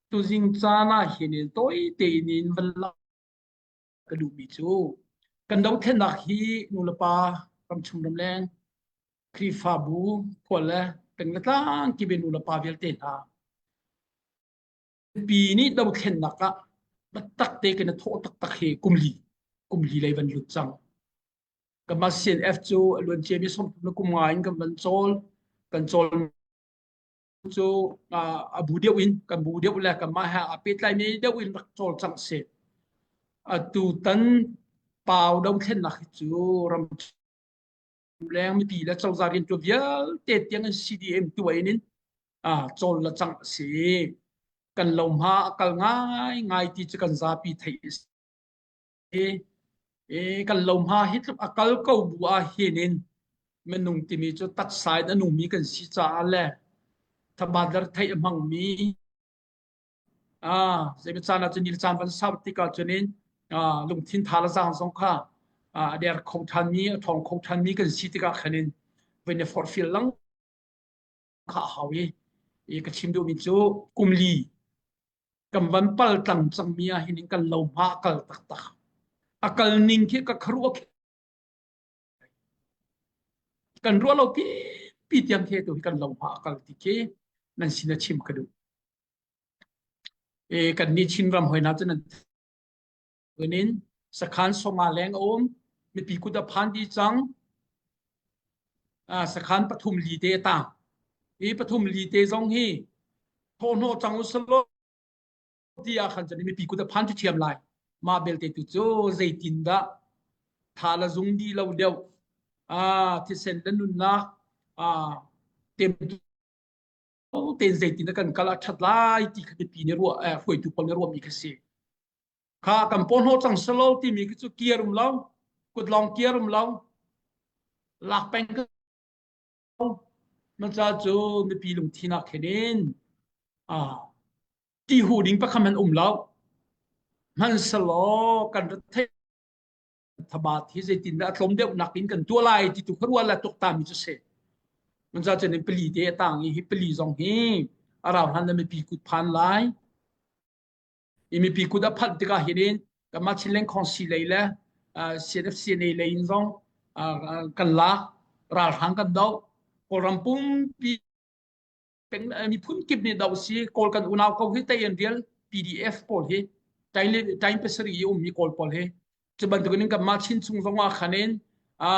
Tuzing caan ah hin tawi tein in van lau ka duhmi cu kan dothlennak hi nulepa ramchung ramleng Khrihfabu khual le peng le tlang kime nulepa vialte hna pi nih dothlennak ah biatak te kan i thawh taktak hi kum li kum li lei van lut cang kama CNF cu a luan cia mi som le kum nga in kan van cawl kan cawl cu a bu deuh in kan bu deuh le kanmah he a pehtlaimi deuh in rak cawlcangh si tutan pau dothlennak hi cu ram leng mipi le cozah rian tuan vialte tiang in CDM tuain in cawl le cangh a si kan lohma a kal ngai ngai ti cu kan zapi theih a si i kan lohma hi tluk a kal ko bu ah hin in minung timi cu taksa in a numi kan si caah le thabader theih a hmangmi ah zeimi caan ah cun ni caan van sau tik ah cun in lungthin tha le zang zong kha a der kho thanmi a thawng kho thanmi kan si tikah khan in voin a forfil lang kha a hau i i ka chim duhmi cu kumli kan van pal tlang cangmi ah hin in kan lo hma a kal taktak a kal ning khi ka kharuah kan ruah lo pi pi tiang khi tu kan lo hma a kal ti khi nan sin a chim ka duh e kan ni chin ram hoi na cu nan Kunin sakhan songah leng um mipi kut a phan di cang. Ah, sakhan pathum li te ta. I pathum li te zong hi thawhno cang usalo ti a khan chani mipi kut a phan chu thiam lai. Ma belte tu chu zeitin da tha la zung di lo deuh. Ah, thisen la nunnak ah temtu tein zeitin a kan kal a ṭhat lai ti kha mipi nih ruah eh, hruaitu pawl nih ruahmi kha si. Kha kan porno cang salo timi khi cu kiar um lo, kut long kiar um lo, lak peng ko. Man ca cu mipi lungthin ah khen in ti hu ding pakham an um lo. Man salo kan rat thei thabat hi zeitindah a tlawm deuhnak in kan tuah lai ti tu kha rual la tuk ta mi cu se mun za chen pali te a tang i hi pali zong hi a rau hlan na mi pi kut phan lai i mi pi kut a phanh tikah hirin kama chileng khonsi lei le CNFCNA lei in zong kan lak ral hrang kan do kawlram pumpi kan miphun kip nih doh si kawl kan unau ko hi tei an rial PDF pawl hi tain tain pasari i ummi kawl pawl hi cu bantukin kan mah chin chung zong ah khanin a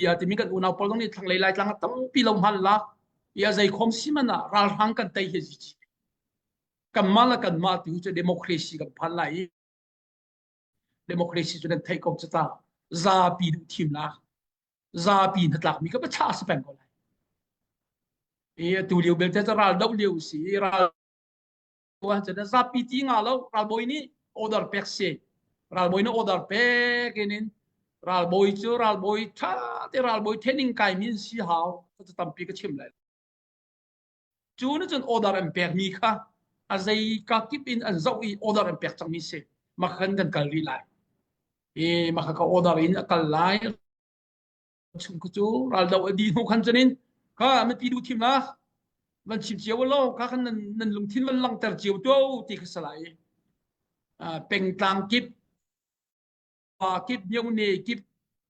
ya timi kan unau pawl zong nih thlanglei lai tlang tampi lo hman la ya zai khom siman ah ralhrang kan tei hi zi kan mah la kan mah tu cu democracy kan phan lai i democracy cu nan theih ko cu ta zapi duh thim la zapi hnatlak mi ka ba cha se peng ko lai e tu liu belte ta ral do liu si ral wa cha na zapi ti nga lo ral boy ni order pek se ral boy na order pek inin ral boy cu ral boy tha te ral boy thening kai min si hau ta tampi ka chim lai Cu nih cun order an pekmi kha a zei kakip in an zoh i order an pek cangmi si. Makhan kan kal rih lai. I makha ka order in a kal lai. Chung cu cu raldo a di hnu khan cunin ka mipi du thim la van chim cio lo ka kan nan nan lungthin van langter cio to ti ka salai pengtlang kip pa kip biu ne kip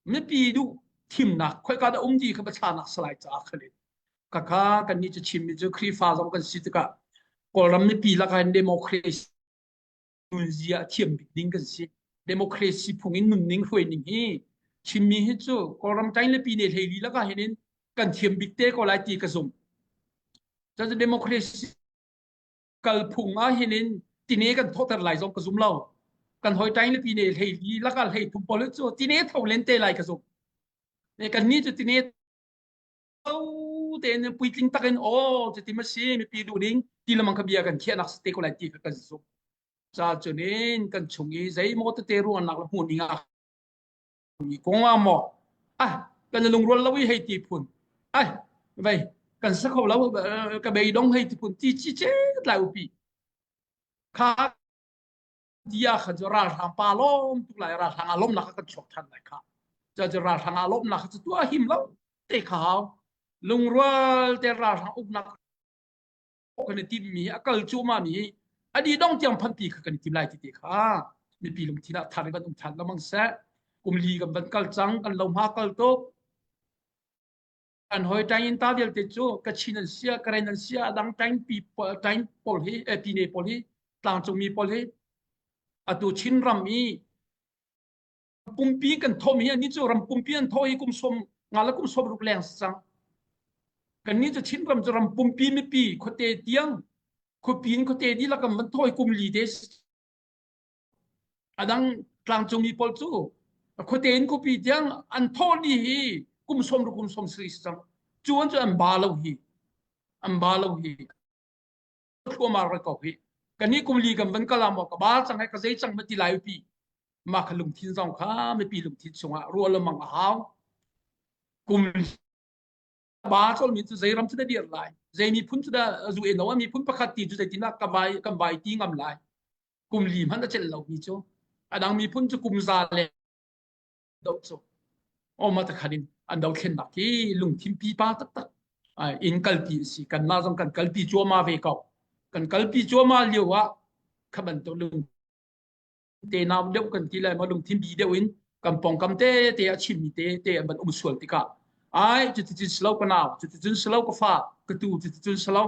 mipi duh thimnak khoi ka da um di kha bacha nak salai cha khale ka kha kan ni chu chim mi chu khrifa zong kan si tika kawlram mipi lakai democracy nun zia thiam bik ding kan si democracy phung in nun ning hroi ning hi chimmi hi chu kawlram tain le pi ne hlei li laka henin kan thiam bik te ko lai ti ka zum cha chu democracy kalphung ah hin in tine kan thawhter lai zong ka zum lo kan hoi tain le tine hlei li laka hlei thum pol cu tine tho len te lai ka zum ne kan ni cu tine to te ne puitling takin o chu ti ma si mi pi du ning ti lamang ka bia kan khia nak te ko lai ti ka zum sa chunin kan chung i zei mo te te ruan nak la hmun ning ah Mi kongah maw? Ah, kan na lungrual lo i hei ti phun. Ai, vei, kan sa kho lo, ka bei dong hei ti phun, ti chi che lai upi. Kha dia kha jo ral hrang pa lom tu lai ral hrang alom laka kan chok than lai kha. Cho jo ral hrang alom laka chu tua him lo, te khao. Lungrual te ral hrang uk nak kan i timmi hi a kal cuahmah mi hi a di dong tiang phanti kha kan i tim lai ti te kha mipi lungthin ah thar in kan um than lamang seh kumli kan van kal cang kan lo hma kal tuk an hoi tain in ta vialte cu ka chin an sia ka ren an sia dang tain pi tain pol hi eh, pi ne pol hi tlang cung mi pol hi atu chin ram i pumpi kan thawm hi ani cu ram pumpi an thaw hi kum som nga la kum som ruk leng sang kan ni chu chin ram chu ram pumpi mipi khote tiang khupin khote di lakam man thoi kum li des adang tlangcung mi pol chu khote in kupi tiang an thaw ni hi kum som ru kum som sri sang chuan chu an ba lo hi an ba lo hi thluamar ra ko hi kan ni kum li kan van kala mo ka bal chang he ka zei chang ma ti lai pi ma kha lungthin zong kha me pi lungthin chunga rual la mang a hau kum ba chol min chu zeiram chu da dir lai zei mi phun chu da zu e no mi phun pakhat ti chu zeitina ka bai ka bai ti ngam lai kum li man a chel lo mi chu adang mi phun chu kum za le do so o ma ta khanin an do thlen nak hi lungthin pi pa tak tak in kalti si kan na zong kan kalpi chuama ve ko kan kalpi chuama liu wa khaban to lung te naw deu kan ti lai ma lung thim bi deu in kan pong kam te te a chin mi te te an ban um sual tika ai chu ti chun slow ka naw chu ti chun slow ka fa ka tu chu ti chun slow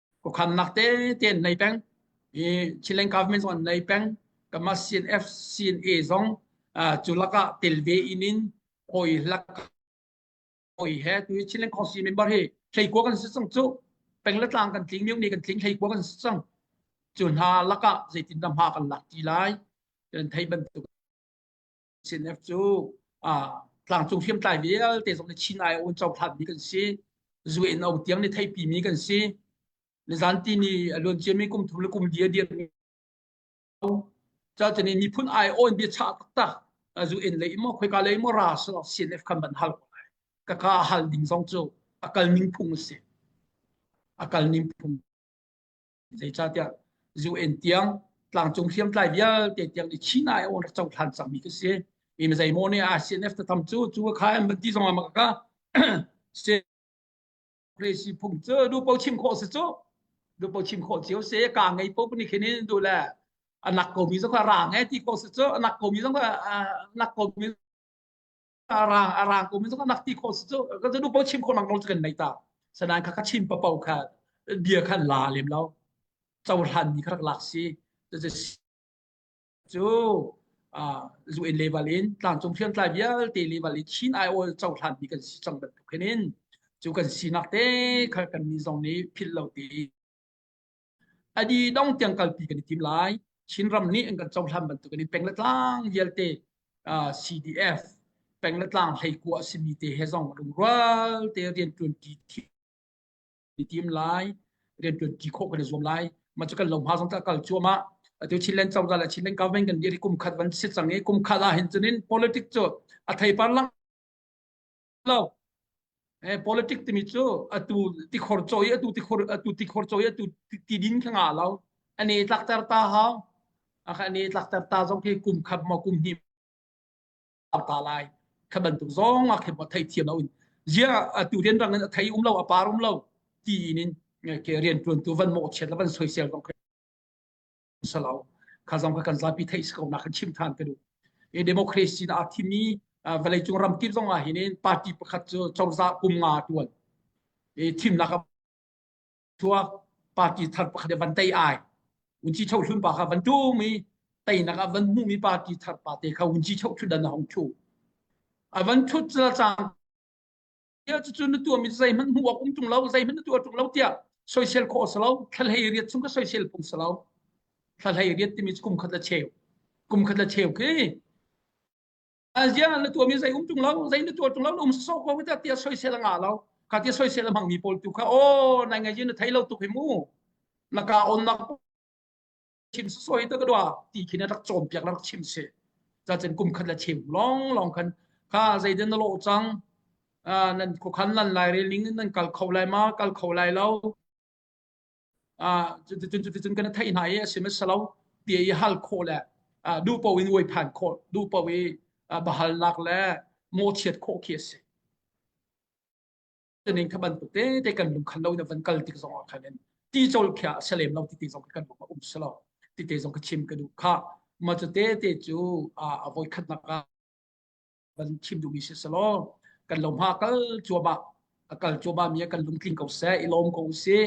kukhamnak tete an nei peng i Chilean government zong an nei peng kama CNF CNA zong cu lakah tel ve in in hoi lak hoi he tu Chilean council member hi hlei kuwa kan si cang cu peng le tlang kan tling miu ni kan tling hlei kuwa kan si cang cu hna lakah zeitin dah hma kan lak ti lai kan thei bantuk CNF cu tlangcung hriamtlai vialte zong nih Chin ai awn cohlanmi kan si. Zue in au tiang ni theipimi kan si. Nizanti ni luan ciami kum thum le kum dia dirmi cacani miphun ai awn bia cha taktak zu in lei mo khoi ka lei mo ra so CNF kan ban hal ka ka hal ding zong cu akal ning phung si akal ning phung zeicahtiah UN tiang tlangcung hriamtlai vialte tiang i China e on rak hlan cangmi ka si in zeimaw ne ACNF ta tham cu cu kha an van ti zong ah maka se Crazy phung cu du po chim khawh se cu du po chim khawh cio se ka ngei po ni khin du le anak komi zong ka rang e ti ko se cu anak komi zong anak komi a rang a rang ko mi zong nak ti khawh su ka nu po chim khawh lang lo kan nei ta sanan kha ka chim pa po kha dia khan la lem lo chau hlan ni kha lak si cu luen level in tlang cung phian tlai vialte level in chin ai ol chau hlan ni kan si chang dat khenin cu kan sinak te kha kan ni zong ni phil lo ti Adi dong tiang kalpi kan i tim lai. Chinram nih an kan cohlan bantuk in peng le tlang vialte uh, CDF peng le tlang hlei kua a simi te he zong lungrual te rian tuanti tim lai rian tuanti khawh kan i zuam lai ma chu kan lo ma zong ta kal chuama atu chin len chawda la chin len government kan diri kum khat van si chang e kum khat ah hin chunin politics chu a thei par lang lo eh politic timi cu atu tikhor caw i atu tikhor atu tikhor caw i atu ti din kha nga lo ani tlakter ta hao aka ani tlakter ta zong khi kum khat mo kum hnim ta lai kha bantuk zong a khem thai thiam lo in ya atu den rang in thai um lo a par um lo ti in ke rian tuan tu van mo chet la ban soisel zong salo kha zong kha kan zapi theih si ko na kan chim than ka duh e democracy na athimi vale cung ram tir zong ah hin party pakhat cu chorza kum nga tuan e thim na ka thua party thar pakhat van tai ai unchi chau hlun ba kha van tu mi tai na ka van mu mi party thar pa te kha unchi chau thun dan hong chu avan thut chan tiah cucu na tuahmi zeihmanh hmuh awk um ṭung lo zeihmanh na tuah ṭung lo tiah soisel khawh a si lo thlahlei riat chung ka soisel phung si lo thlahlei riat timi kum khat la cheu kum khat la cheu khi azia na tuahmi zei um ṭung lo zei na tuah ṭung lo na um sosok ko ta tia soisel a ngah lo ka tia soisel a hmangmi pawl tu kha aw nai ngai na thei lo tuk hi mu na ka on nak chim soi ta ka dua ti khin rak chom piak rak chim se za chen kum khat la chim long long khan ka zai den lo chang nan ko khan lan lai re ling nan kal kho lai ma kal kho lai lo a chun chun chun kana thai na ye sim salo ti i hal kho le du po in woi phan kho du po i bahal lak le mo chiat kho khi se kan in kha bantuk te kan lungkhan lo in van kal tik zong ah khan in ti chol khia a se lem lo ti ti zong kan um um se lo ti te zong ka chim ka du kha ma chu te te chu a voi khat nak a van chim du mi se se lo kan lo ma kal chua ba a kal chua ba mi kan lung tling ko se i lom ko si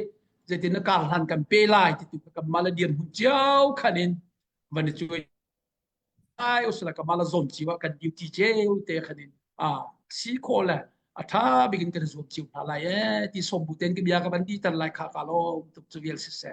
zetin na kar hlan kan pe lai ti tu ka ma la diam hun chiao khan in van chu ai usala kamala zom chiwa kan duty cheu te khanin a si ko le a tha bikin kan zom chiu hna lai e ti som bu ten ki bia ka ban di tan lai kha ka lo tuk chu vial si se